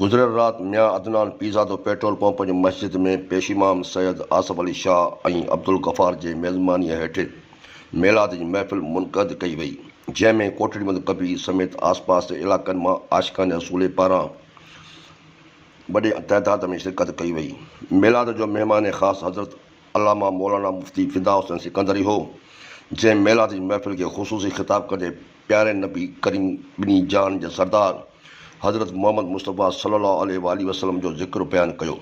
گذريل رات Mian Adnan Pirzado petrol pump جي مسجد ۾ پيشيمام سيد آصف علي شاهه ۽ عبدالغفار جي ميزبانيء هيٺ ميلاد جي محفل منقعد ڪئي وئي، جنهن ۾ ڪوٽڙي مند ڪبير سميت آسپاس جي علائقن مان عاشقان رسول پاران وڏي تعداد ۾ شرڪت ڪئي وئي. ميلاد جو مهمان خاص حضرت علامه مولانا مفتي فدا حسين سڪندري هو، جنهن ميلاد جي محفل کي خصوصي خطاب ڪندي پياري نبي ڪريم ٻنهي جهان جا سردار حضرت محمد مصطفيٰ صلّي الله عليه واٰله وسلّم جو ذڪر بيان ڪيو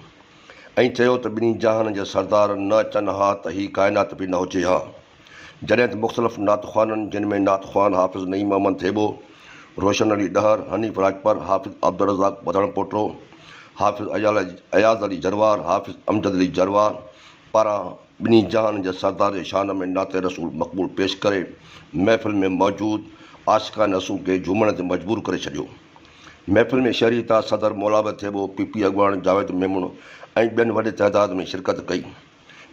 ۽ چيو ته ٻنهي جهان جا سردار نه اچن ها ته هي ڪائنات به نه هجي ها جڏهن ته مختلف نعت خوانن جن ۾ نعت خوان حافظ نعيم محمد ٿيٻو، روشن علي ڏهر، حنيف راڄپر، حافظ عبدالرزاق وڌڻ پوٽو، حافظ اياز علي جروار، حافظ امجد علي جروار، پاران ٻنهي جهان جي سردار جي شان ۾ نعت رسول مقبول پيش ڪري محفل ۾ موجود عاشقان رسول کي جهومڻ تي مجبور ڪري ڇڏيو. محفل ۾ شهري تاج صدر مولاعبد ٿيٻو، پي پي اڳواڻ جاويد ميمڻ ۽ ٻين وڏي تعداد ۾ شرڪت ڪئي.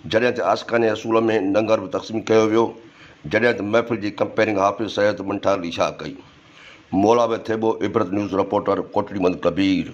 جڏهن ته عاشقان رسول ۾ لنگر به تقسيم ڪيو ويو. جڏهن ته محفل جي ڪمپيئرنگ حافظ سيد منٺار علي شاهه ڪئي. مولاعبد ٿيٻو عبرت نيوز رپورٽر ڪوٽڙي مند ڪبير.